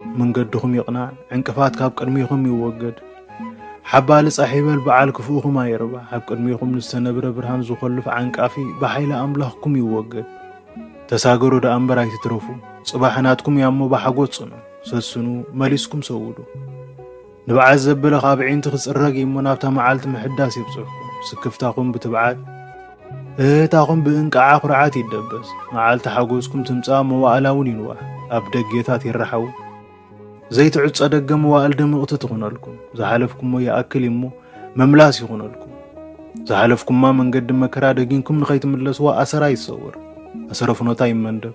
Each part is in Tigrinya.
መንገድኹም ይቕናዕ፣ ዕንቅፋት ካብ ቅድሚኹም ይወገድ። ሓባሊ ጻሕ ይበል በዓል ክፉእኹም ኣይርባሕ፣ ኣብ ቅድሚኹም ንዝተነብረ ብርሃን ዝኾልፍ ዓንቃፊ ብሓይሊ ኣምላኽኩም ይወገድ። ተሳገሩ ደኣ እምበር ኣይትትረፉ፣ ጽባሕ ናትኩም እያሞ ብሓጎስ ጽንዑ፣ ሰስኑ፣ መሊስኩም ሰውዱ። ንብዓት ዘበለ ካብ ኣዒንቲ ክጽረግ እዩሞ ናብታ መዓልቲ ምሕዳስ የብጽሕኩም። ስክፍታኹም ብትብዓት እህህታኹም ብእንቃዓ ኩርዓት ይደበስ። መዓልቲ ሓጎስኩም ትምጻእ መዋእላ እውን ይንዋሕ። ኣብ ደጌታት ይረሓው ዘይትዕጾ ደገ መዋእል ድምቕቲ ትኹነልኩም። ዝሓለፍኩሞ ይኣክል እዩሞ መምላስ ይኹነልኩም። ዝሓለፍኩማ መንገዲ መከራ ደጊንኩም ንኸይትምለስዋ ኣሰራ ይሰወር፣ ኣሰረ ፍኖታ ይመንደብ።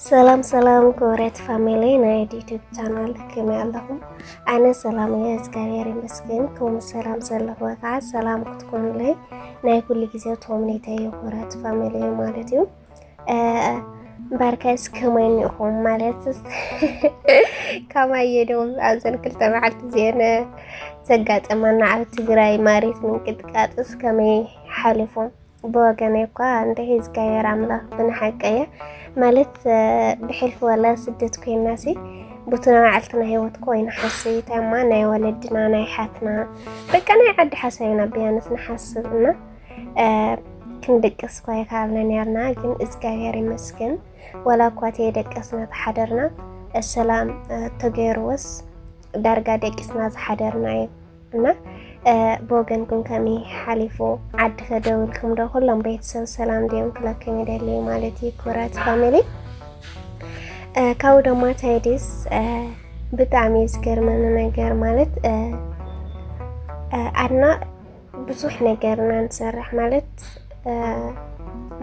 ሰላም ሰላም ክብረት ፋሚሊ ናይ ዩቱብ ቻናል ከመይ ኣለኹም? ኣነ ሰላም እየ እግዚኣብሔር ይመስገን። ከምኡ ሰላም ዘለኹዎ ከዓ ሰላም ክትኮኑለይ ናይ ኩሉ ግዜ ተምኔተ እዩ ክብረት ፋሚሊ ማለት እዩ። እምበርከስ ከመይ እኒኹም ማለት ከማይ የደውም ኣብዘን ክልተ መዓልቲ እዚአን ዘጋጠመና ኣብ ትግራይ ማሪት ምንቅጥቃጥስ ከመይ ሓሊፎም ብወገነይ እኳ እንተ ሒዝጋየር ኣምላኽ ብንሓቀየ ማለት ብሕልፊ ወላ ስደት ኮይናሲ ቡቲ ናይ ባዕልትና ሂወት ኮይና ሓስይ ታይማ ናይ ወለድና ናይ ሓትና በቃ ናይ ዓዲ ሓሳብና ብያንስ ንሓስብ እና ክንድቅስ እኳ ይከኣልና ነርና ግን እግዚኣብሔር ይመስገን ወላ እኳ ተየደቀስና ተሓደርና ሰላም ተገይርዎስ ዳርጋ ደቂስና ዝሓደርና እዩ እና ብወገንኩም ከመይ ሓሊፉ ዓዲ ከደውልኩም ዶ ኩሎም ቤተሰብ ሰላም ድዮም ክለኩም ይደልዩ ማለት እዩ ክብራት ፋሚሊ ካብኡ ድማ ታይዲስ ብጣዕሚ ዝገርመኒ ነገር ማለት ኣድና ብዙሕ ነገር ኢና ንሰርሕ ማለት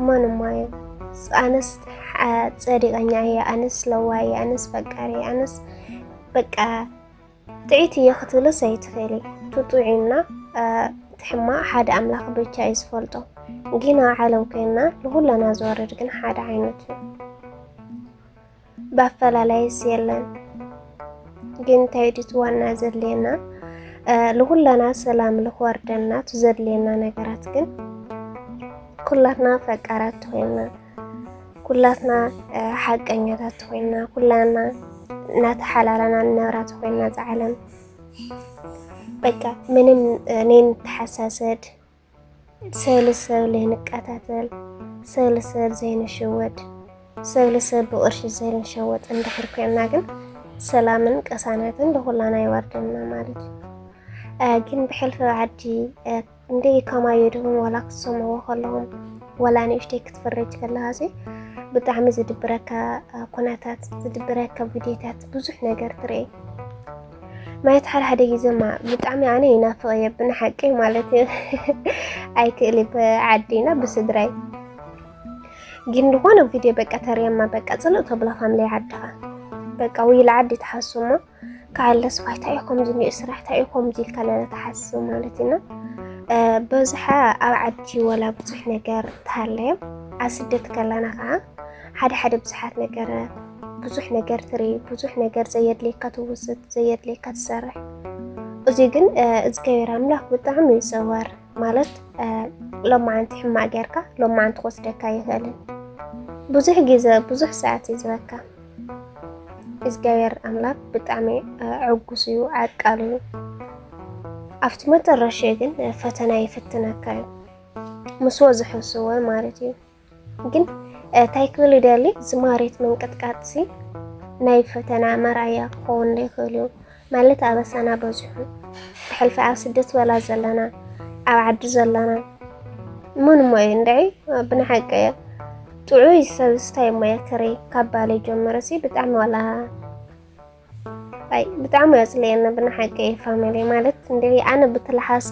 መኑማ እዩ ኣነስ ፀዲቐኛ እየ ኣነስ ለዋ እየ ኣነስ ፈቃሪ ኣነስ በቃ ጥዒት እየ ክትብልስ ኣይትኽእሊ እቲ ጥዑይና እቲ ሕማቕ ሓደ ኣምላኽ ብቻ እዩ ዝፈልጦ ግና ዓለም ኮይና ንኹላና ዝወርድ ግን ሓደ ዓይነት እዩ ብኣፈላላይስ የለን ግን እንታይ ድዩ ዋና ዘድልየና ንኹላና ሰላም ልክወርደና እቲ ዘድልየና ነገራት ግን ኩላትና ፈቃራት ኮይና ኩላትና ሓቀኛታት ኮይና ኩላና እናተሓላለና ንነብራ ተኮይና ዝዓለም በቃ ምንም እኔ ንተሓሳሰድ ሰብ ልሰብ ዘይንቀታተል ሰብ ልሰብ ዘይንሸወድ ሰብ ልሰብ ብቅርሺ ዘይንሸወጥ እንድሕር ኮይና ግን ሰላምን ቀሳናትን ንኩላና ይወርደና ማለት እዩ ግን ብሕልፊ ዓዲ እንዴ ከማይ የድህቡ ዋላ ክትሰምዕዎ ከለኹም ዋላ ንእሽተይ ክትፈረጅ ከለኻ ሲ ብጣዕሚ ዝድብረካ ኩነታት ዝድብረካ ቪድዮታት ብዙሕ ነገር ትርኢ ማለት ሓደ ሓደ ግዜማ ብጣዕሚ ኣነ ይናፍቕ እየ ብንሓቂ ማለት እዩ ኣይክእል ብዓዲና ብስድራይ ግን ዝኾነ ቪድዮ በቃ ተርእየማ በቃ ፅልእ ተብሎ ፋምለይ ዓድኻ በቃ ውይል ዓዲ ትሓስሞ ክዓለስ ኳይ እንታይ እዩ ከምዚ ኒኡ ስራሕ እንታይ እዩ ከምዚ ኢልካ ንተሓስብ ማለት ኢና በዝሓ ኣብ ዓዲ ወላ ብዙሕ ነገር ተሃለየ ኣብ ስደት ከለና ከዓ ሓደ ሓደ ብዙሓት ነገረ ብዙሕ ነገር ትርኢ ብዙሕ ነገር ዘየድልየካ ትውስድ ዘየድልየካ ትሰርሕ እዚ ግን እግዚኣብሔር ኣምላኽ ብጣዕሚ እዩ ዘዋር ማለት ሎማዓንቲ ሕማቅ ጌርካ ሎማዓንቲ ክወስደካ ይኽእልን ብዙሕ ግዜ ብዙሕ ሰዓት እዩ ዝበካ እግዚኣብሔር ኣምላክ ብጣዕሚ ዕጉስ እዩ፣ ዓቃል እዩ። ኣብቲ መጨረሻ ግን ፈተና ይፍትነካ እዩ ምስ ወዝሐስወ ማለት እዩ። ግን እንታይ ክብል ይደሊ ዝማሬት ምንቅጥቃጥሲ ናይ ፈተና መርኣያ ክኸውን ይኽእል እዩ። ማለት ኣበሳና በዚሑ ብሕልፊ ኣብ ስደት ወላ ዘለና ኣብ ዓዲ ዘለና እሞ ንሞ እዩ እንድዒ ብንሓቂ እየ ጥዑይ ሰብ ስታይ እሞ እየ ክርኢ ካብ ባለይ ጀመረ ሲ ብጣዕሚ ዋላ ኣይ ብጣዕሚ የፅልየኒ ብንሓቂ እየ ፋሚሊ ማለት እንድዒ ኣነ ብትልሓሶ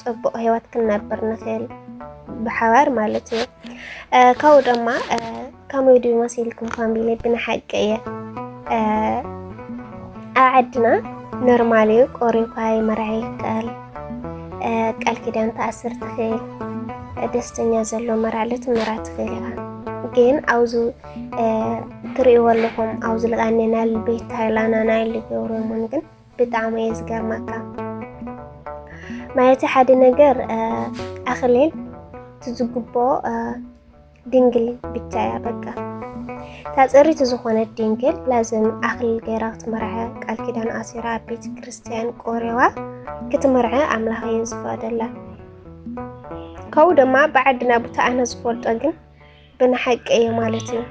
ፅቡቕ ህይወት ክንነብር ንኽእል ብሓባር ማለት እዩ ካብኡ ድማ ከመይ ድዩ መሲልኩም ፋሚሊ ብንሓቂ እየ ኣብ ዓድና ኖርማል እዩ ቆሪብካ ይመርዓ ይከኣል ቃል ኪዳን ተኣስር ትኽእል ደስተኛ ዘሎ መራዕለ ትመራ ትኽእል ኢኻ ግን ኣብዚ ትርእይዎ ኣለኹም ኣብዚ ልቃኔና ቤት ሃይላናና ኢሉ ገብሮምን ግን ብጣዕሚ እየ ዝገርመካ ማለት ሓደ ነገር ኣክሌል ትዝግቦ ድንግል ብቻ እያ በቃ ታፀሪት ዝኾነት ድንግል ላዝም ኣክሊል ገይራ ክትመርዐ ቃል ኪዳን ኣሲራ ኣብ ቤተ ክርስትያን ቆሪዋ ክትመርዐ ኣምላኽ እየ ዝፈቅደላ ካብኡ ድማ ብዓድና ቦታ ኣነ ዝፈልጦ ግን ብንሓቂ እየ ማለት እዩ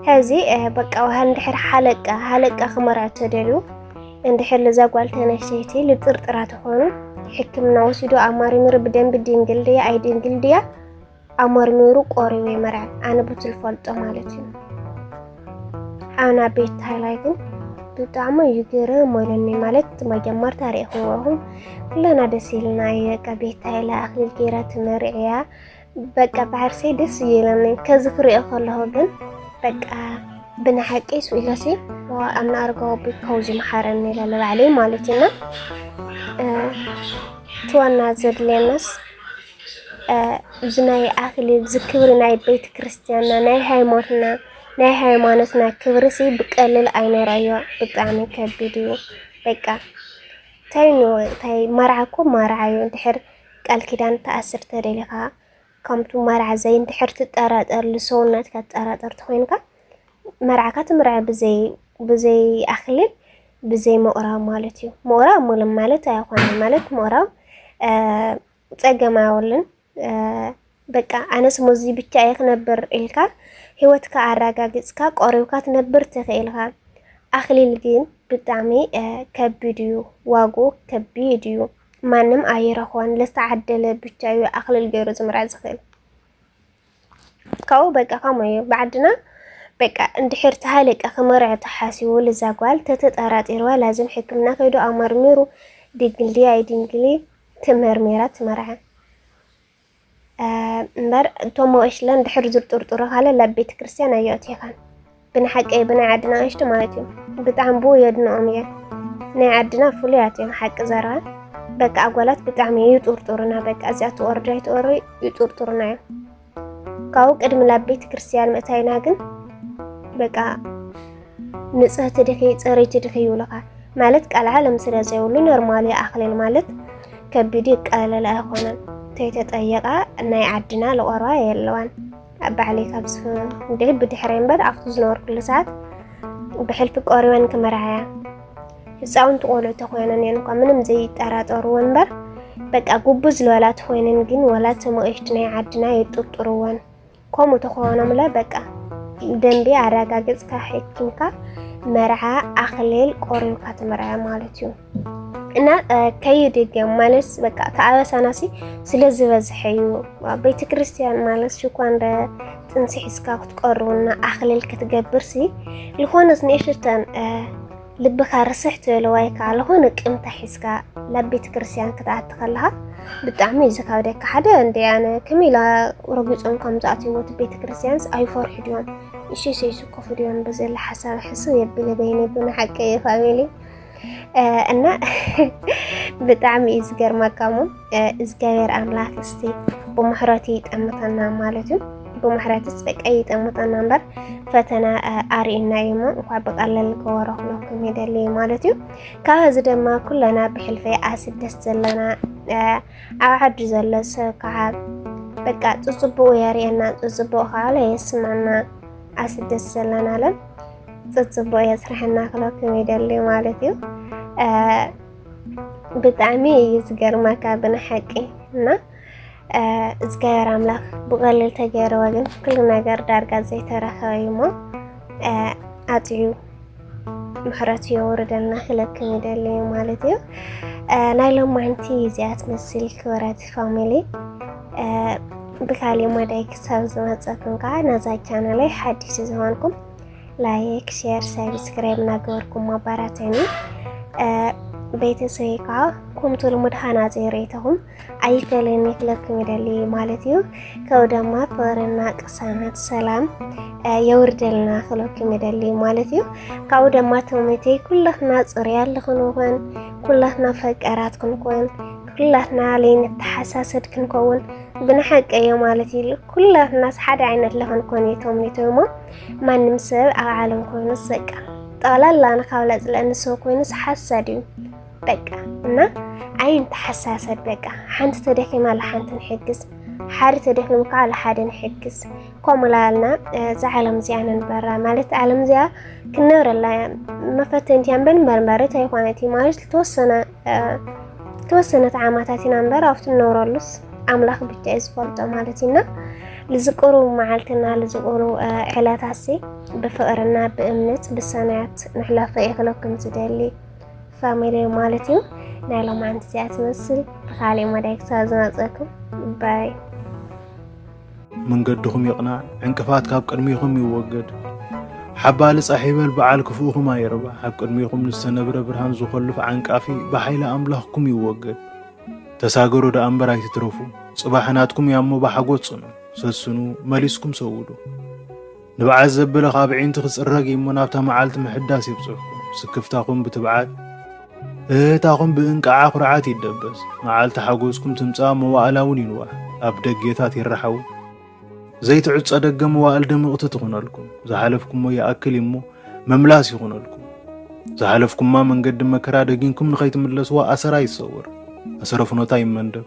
ሕዚ በቃ ውሃ እንድሕር ሓለቃ ሓለቃ ክመርዖ ተደልዩ እንድሕር ልዛ ጓል ተነስተይቲ ልጥርጥራ ተኾኑ ሕክምና ወሲዶ ኣማርሚሩ ብደንቢ ድንግል ድያ ኣይ ድንግል ድያ ኣመርሚሩ ቆሪቡ ይመርዐ ኣነ ብትል ፈልጦ ማለት እዩ ኣና ቤት ታይላይ ግን ብጣዕሚ እዩ ግርም ወለኒ ማለት መጀመርታ ሪእኽዎ ኩለና ደስ ኢልና እዩ በቃ ቤት ታይላ ኣክሊል ገይራ ትመርዕያ በቃ ብዓርሰይ ደስ እየለኒ ከዚ ክሪኦ ከለኹ ግን በቃ ብንሓቂ ስኢለሲ ኣብ ንኣርጋዊ ቤት ከውዚ መሓረኒ ኢለ ንባዕለይ ማለት እዩና እቲ ዋና ዘድልየናስ እዚ ናይ ኣክሊል እዚ ክብሪ ናይ ቤተ ክርስትያንና ናይ ሃይማኖትና ናይ ሃይማኖትና ክብሪ ሲ ብቀልል ኣይነረዮ ብጣዕሚ ከቢድ እዩ በቃ እንታይ እንታይ መርዓ እኮ መርዓ እዩ እንድሕር ቃል ኪዳን ትኣስር ተደሊኻ ከምቱ መርዓ ዘይ እንድሕር ትጠራጠር ልሰውነትካ ትጠራጠር ተኮይንካ መርዓካ ትምርዐ ብዘይ ብዘይ ኣክሊል ብዘይ ምቑራብ ማለት እዩ። ምቑራብ ሙሉም ማለት ኣይኾነን ማለት ምቑራብ ፀገም ኣውልን በቃ ኣነስ ሞዚ ብቻ እየ ክነብር ኢልካ ሂወትካ ኣራጋጊጽካ ቆሪብካ ትነብር ትክእል ኢካ ኣክሊል ግን ብጣዕሚ ከቢድ እዩ ዋግኡ ከቢድ እዩ ማንም ኣይረክቦን ለዝተዓደለ ብቻ እዩ ኣክሊል ገይሩ ዝምርዐ ዝክእል ካብኡ በቃ ከምኡ እዩ ብዓድና በቃ እንድሕር ተሃለቀ ክመርዖ ተሓሲቡ ልዛ ጓል ተተጠራጢርዋ ላዝም ሕክምና ከይዱ ኣመርሚሩ ድንግል ድያ ኣይድንግል ተመርሚራ ትመርዐ እምበር እቶም መወሽለን ድሕር ዝርጥርጥሩ ካለ ላብ ቤተ ክርስቲያን ኣየእትዮኻን ብንሓቂ ብናይ ዓድና ኣንሽቲ ማለት እዩ ብጣዕሚ ብኡ የድንኦም እየ ናይ ዓድና ፍሉያት እዮም ሓቂ ዘራ በቃ ኣጓላት ብጣዕሚ ይጡርጡርና በቃ እዚኣ ትወርዶ ይትወሩ ይጡርጡርና እዮም ካብኡ ቅድሚ ላብ ቤተ ክርስቲያን ምእታይና ግን በቃ ንጽህቲ ድኺ ጽርይቲ ድኺ ይብሉኻ ማለት ቃል ዓለም ስለ ዘይብሉ ኖርማል ኣኽሊል ማለት ከቢድ ይቃለል ኣይኾነን ተይተጠየቃ ናይ ዓድና ልቆርባ የለዋን ኣብ ባዕለይ ካብ ዝፍንደይ ብድሕረይ እምበር ኣብቲ ዝነበርኩሉ ሰዓት ብሕልፊ ቆሪበን ክምርዓያ ህፃውንቲ ቆልዑ ተኮይነን እየን እኳ ምንም ዘይጠራጠርዎ እምበር በቃ ጉቡዝ ዝበላ ተኮይነን ግን ወላ ተመቂሽቲ ናይ ዓድና የጥርጥርወን ከምኡ ተኾኖምለ በቃ ደንቢ ኣረጋግፅካ ሕኪምካ መርዓ ኣኽሌል ቆሪብካ ትምርዐ ማለት እዩ እና ከይድገም ማለት በቃ ተኣበሳናሲ ስለ ዝበዝሐ እዩ ቤተ ክርስቲያን ማለት ሽኳ እንደ ጥንሲ ሒዝካ ክትቀርቡና ኣኽልል ክትገብርሲ ዝኾነስ ንእሽተን ልብካ ርስሕ ትበሎ ዋይ ከኣ ልኾነ ቅምታ ሒዝካ ናብ ቤተ ክርስትያን ክትኣቲ ከለኻ ብጣዕሚ እዩ ዝካብደካ ሓደ እንደ ኣነ ከመይ ኢላ ረጊፆም ከም ዝኣትይዎ እቲ ቤተ ክርስትያንስ ኣይፈርሑ ድዮም እሸሸ ይስከፉ ድዮም ብዘለ ሓሳብ ሕስብ የብለ በይነ ብና ሓቂ እዩ ፋሚሊ እና ብጣዕሚ እዩ ዝገርመካ እሞ እግዚኣብሔር ኣምላክ እስቲ ብምሕረቱ ይጠምተና ማለት እዩ። ብምሕረትስ በቃ ይጠምተና እምበር ፈተና ኣርእና እዩ እሞ እንኳ ብቀለል ከወረክለኩም ይደሊ ማለት እዩ። ካብ እዚ ድማ ኩለና ብሕልፈ ኣስደስ ዘለና ኣብ ዓዱ ዘሎ ሰብ ከዓ በቃ ፅፅቡቁ የርእየና ፅፅቡቅ ከዓ የስማና ኣስደስ ዘለና ለን ፅፅቡቅ የስርሐና ክለኩም ይደሊ ማለት እዩ። ብጣዕሚ እዩ ዝገርማካ ብንሓቂ እና እግዚኣብሔር ኣምላኽ ብቐሊል ተገይርዎ ግን ኩሉ ነገር ዳርጋ ዘይተረኸበ እዩ እሞ ኣፅዩ ምሕረቱ የውርደልና ክለክም ይደሊ እዩ ማለት እዩ ናይ ሎማንቲ እዚኣ ትመስል ክብረት ፋሚሊ ብካሊእ መዳይ ክሳብ ዝመፀኩም ከዓ ነዛ ቻናለይ ሓዲስ ዝኾንኩም ላይክ ሼር ሳብስክራይብ እናገበርኩም ኣባራትዕኒ ቤተሰበይ ከዓ ከምቲ ልሙድ ሃናፂ ርእይቶኹም ኣይፈለኒ ክለኩም ይደሊ ማለት እዩ ከው ደማ ፍቅርና ቅሳነት ሰላም የውርደልና ክለኩም ይደሊ ማለት እዩ ካብኡ ደማ ተመተይ ኩላትና ፅርያ ልክንኾን ኩላትና ፈቀራት ክንኮን ኩላትና ለይንተሓሳሰድ ክንከውን ብንሓቀ እዮ ማለት እዩ ኩላትናስ ሓደ ዓይነት ለክንኮን እዩ ተምኒቶ እሞ ማንም ሰብ ኣብ ዓለም ኮይኑስ በቃ ጠቕላላ ንካብላ ዝለእኒ ሰብ ኮይኑስ ሓሳድ እዩ በቃ እና ኣይን ተሓሳሰብ በቃ ሓንቲ ተደኪማ ለሓንቲ ንሕግዝ ሓደ ተደኪሙ ከዓ ለሓደ ንሕግዝ ከምኡ ላልና እዛ ዓለም እዚኣ ንንበራ ማለት ዓለም እዚኣ ክንነብረላ መፈተንቲያ እምበር መርመሪት ኣይኮነት ማለት ዝተወሰነ ተወሰነ ተዓማታት ኢና እምበር ኣብቲ ንነብረሉስ ኣምላኽ ብቻ እዩ ዝፈልጦ ማለት እዩና ልዝቅሩ መዓልትና ልዝቅሩ ዕለታሲ ብፍቅርና ብእምነት ብሰናያት ንሕለፈ የክለኩም ዝደሊ ፋሚሊ ማለት እዩ ናይ ሎማንቲ እዚኣ ትመስል ብካሊእ መዳይ ክሳብ ዝመፀኩም ባይ መንገድኹም ይቕናዕ፣ ዕንቅፋት ካብ ቅድሚኹም ይወገድ። ሓባሊ ጻሕ ይበል በዓል ክፉእኹም ኣይርባሕ፣ ኣብ ቅድሚኹም ንዝተነብረ ብርሃን ዝኾልፍ ዓንቃፊ ብሓይሊ ኣምላኽኩም ይወገድ። ተሳገሩ ደኣ እምበር ኣይትትረፉ፣ ጽባሕ ናትኩም እያሞ ብሓጎስ ጽኑ፣ ሰስኑ፣ መሊስኩም ሰውዱ። ንብዓት ዘበለ ካብ ኣዒንቲ ክጽረግ እዩሞ ናብታ መዓልቲ ምሕዳስ የብጽሕኩም። ስክፍታኹም ብትብዓት እህታኹም ብእንቃዓ ኩርዓት ይደበስ። መዓልቲ ሓጎስኩም ትምጻእ መዋእላ እውን ይንዋሕ። ኣብ ደጌታት ይረሓው ዘይትዕጾ ደገ መዋእል ድምቕቲ ትኹነልኩም። ዝሓለፍኩሞ ይኣክል እዩሞ መምላስ ይኹነልኩም። ዝሓለፍኩማ መንገዲ መከራ ደጊንኩም ንኸይትምለስዋ ኣሰራ ይሰወር፣ ኣሰረ ፍኖታ ይመንደብ።